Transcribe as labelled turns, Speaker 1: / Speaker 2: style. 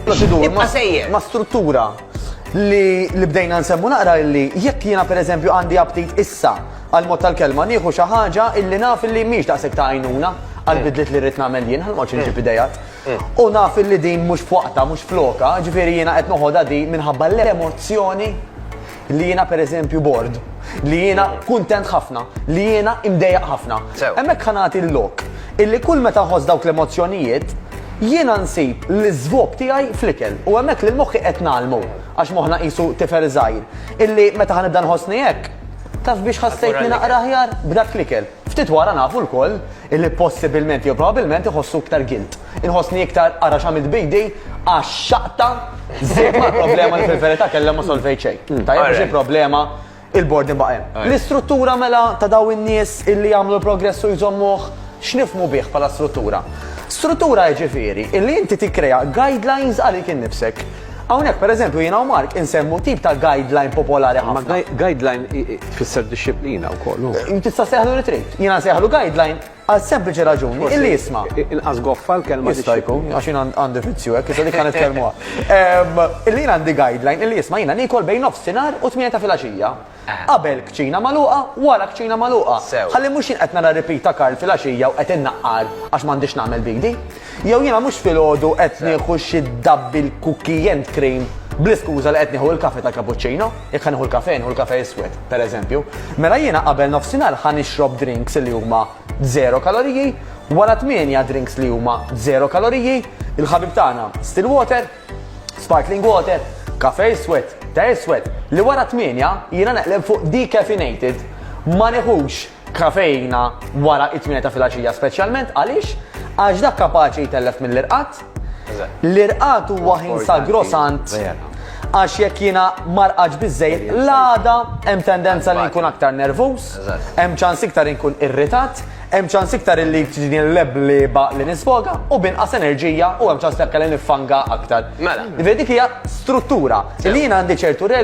Speaker 1: Proċedur ma' struttura
Speaker 2: li li bdejna nsemmu naqra li jekk jiena pereżempju għandi aptit issa għal mod tal-kelma nieħu xi ħaġa illi naf illi mhix daqshekk ta' għajnuna għal mm. bidliet li rrid nagħmel jien ħalma ċinġi mm. bidejat. Mm. U naf illi din mhux f'waqta, mhux floka, ġifieri jiena qed noħodha di minħabba l-emozzjoni li jiena pereżempju bord, li jiena kuntent ħafna, li jiena imdejjaq ħafna. Sew. Hemmhekk ħa nagħti l-lok illi kull meta nħoss dawk l-emozzjonijiet jiena nsib l-iżvop tiegħi fl-ikel u hemmhekk lil moħħi qed nagħlmu għax moħħna qisu tifel żgħir illi meta ħa nibda nħossni hekk taf biex ħassejtni naqra aħjar b'dak l-ikel. Ftit wara nafu lkoll illi possibilment jew probabilment iħossu iktar guilt. Inħossni iktar ara x'għamilt b'idi għax xaqta żied mal-problema li fil-verità kellha ma solvejt xejn. Tajjeb għax il-problema il-bordin baqa' hemm. L-istruttura mela ta' dawn in-nies illi jagħmlu l-progress u jżommuh x'nifhmu bih bħala struttura? Struttura jiġifieri illi inti tikkrea guidelines għalik innifsek. Hawnhekk, pereżempju, jiena u Mark insemmu tip ta' guideline popolari ħafna. Imma guideline
Speaker 3: tfisser dixxiplina wkoll. Tista' ssejħlu li trid.
Speaker 2: Jiena nsejħlu guideline għal sempliċi raġuni illi isma'. Inqas goffa l-kelma
Speaker 3: dixxiplina. Jista' jkun, għax jien
Speaker 2: għandi vizzju hekk, issa dik ħa nitkellmuha. Illi jien għandi guideline illi isma' jiena niekol bejn nofsinhar u tmienja ta' filgħaxija. Qabel kċina magħluqa, wara kċina magħluqa. Ħalli mhux jien qed nara repeat ta' Karl filgħaxija u qed innaqqar għax m'għandix nagħmel b'idi. Jew jiena mhux filgħodu qed nieħu xi double cookie and cream bl-iskuża li qed nieħu il-kafe tal-cappuccino. Jekk ħa nieħu l-kafe, nieħu l-kafe iswed, pereżempju. Mela jiena qabel nofsinhar ħa nixrob drinks li huma zero kaloriji, wara tmienja drinks li huma zero kaloriji, il-ħabib tagħna Stillwater, Sparkling water, kafe iswed, te iswed, li wara t-tmienja jiena neqleb fuq decaffeinated. Ma nieħux kafeina wara t-tmienja ta' filgħaxija speċjalment għaliex? Għax dak kapaċi jtellef mill-irqad. L-irqad huwa ħin sagrosant għax jekk jiena ma rqadx biżżejjed l-għada hemm tendenza li nkun aktar nervuż, hemm ċans iktar inkun irritat, Hemm ċans iktar illi tiġini l-leb li baq li nisfoga u b'inqas enerġija u hemm ċans li anke li niffanga aktar. Mela. Dik hija struttura. Li jiena għandi ċertu regoli.